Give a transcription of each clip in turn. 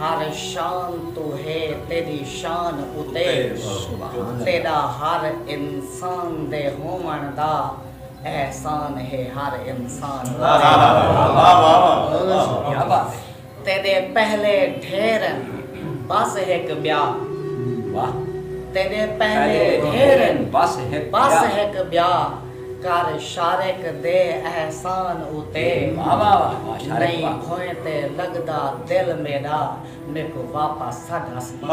ہر شان توں ہے تیݙی شان اتے تیݙا ہر انسان دے ہووݨ دا احسان ہے ہر انسان تیݙے پہلے ڈھیر ہن بس ہک ٻیا تیݙے پہلے ڈھیر ہن بس ہک ٻیا کر شارق دے احسان اتے نئیں بھوئیں تے لڳدا دل میݙا میکوں واپس سݙ اسمان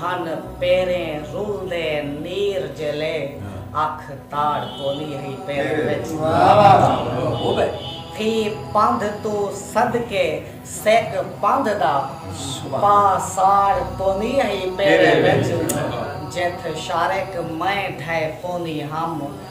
ہن پیریں رلدے نیر جیلے اکھ تاڑ پوندی ہئی پیریں وچ فی پندھ توں صدقے سک پندھ دا پا ساڑ پوندی ہئی پیریں وچ جتھ شارک میں ڈھے پوندی ہم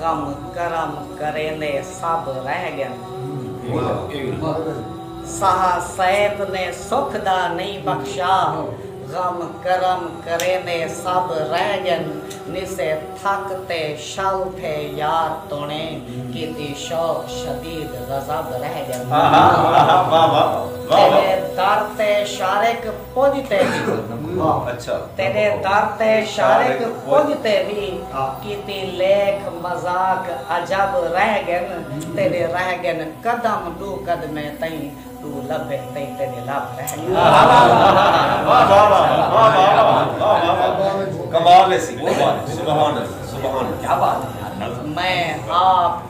غم کرم کریندے سب رہ گن۔ سہا سیت نے سکھ دا نئیں بخشا۔ غم کرم کریندے سب رہ گن۔ نسے تھک تے شل تھے یار تونے۔ کیتی شوق شدید غضب رہ گن۔ تیڈے در تے شارق۔ کجھ تے وی تیݙے در تے شارق کجھ تے وی کیتی لیکھ مذاق عجب رہ ڳن تیݙے رہ ڳن قدم ݙو قدمے تئیں ݙو لبھے تئیں تیݙے لب رہ ڳن میں آپ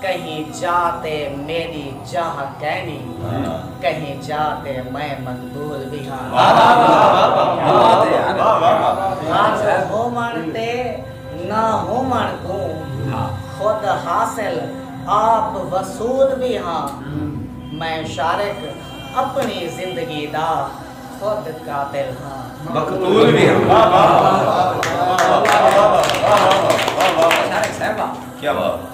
کہیں جا تے میݙی جاہ کینی کہیں جا تے میں مقبول وی ہاں حاضر ہووݨ تے نہ ہووݨ کوں خود حاصل آپ وصول وی ہاں میں شارق اپݨی زندگی دا خود قاتل ہاں مقتول وی ہاں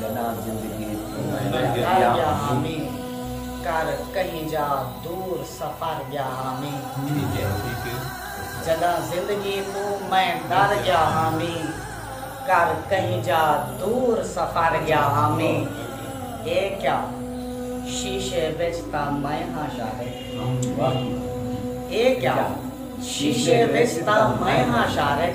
جݙاں زندگی توں میں ڳیا ہامی کر کہیں جا دور سفر ڳیا ہامی جݙاں زندگی توں میں ݙر ڳیا ہامی کر کہیں جا دور سفر ڳیا ہامی اے کیا شیشے وچ تاں میں ہاں شارق اے کیا شیشے وچ تاں میں ہاں شارق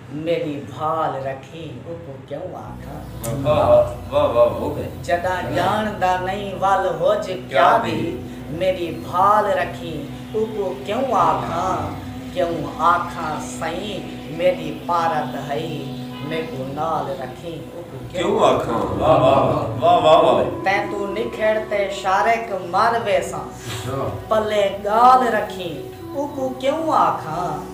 میݙی بھال رکھی اوکوں کیوں آکھاں۔ جݙاں ڄاݨدا نئیں ول ہوج کیا وی۔ میݙی بھال رکھی اوکوں کیوں آکھاں۔ کیوں آکھاں سئیں میݙی پارت ہئی۔ میکوں نال رکھی اوکوں کیوں آکھاں۔ تیں توں نکھڑ تے شارق مر ویساں۔ پلے ڳال رکھی اوکوں کیوں آکھاں۔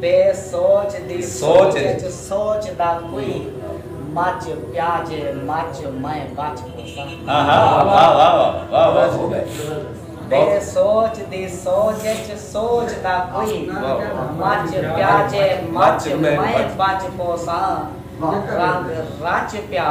بے سوچ دی سوچ اچ سوچ دا کوئی مچ پیا جے مچ میں بچ پوساں۔ بے سوچ دی سوچ اچ سوچ دا کوئی مچ پیا جے مچ میں بچ پوساں رنگ رچ پیا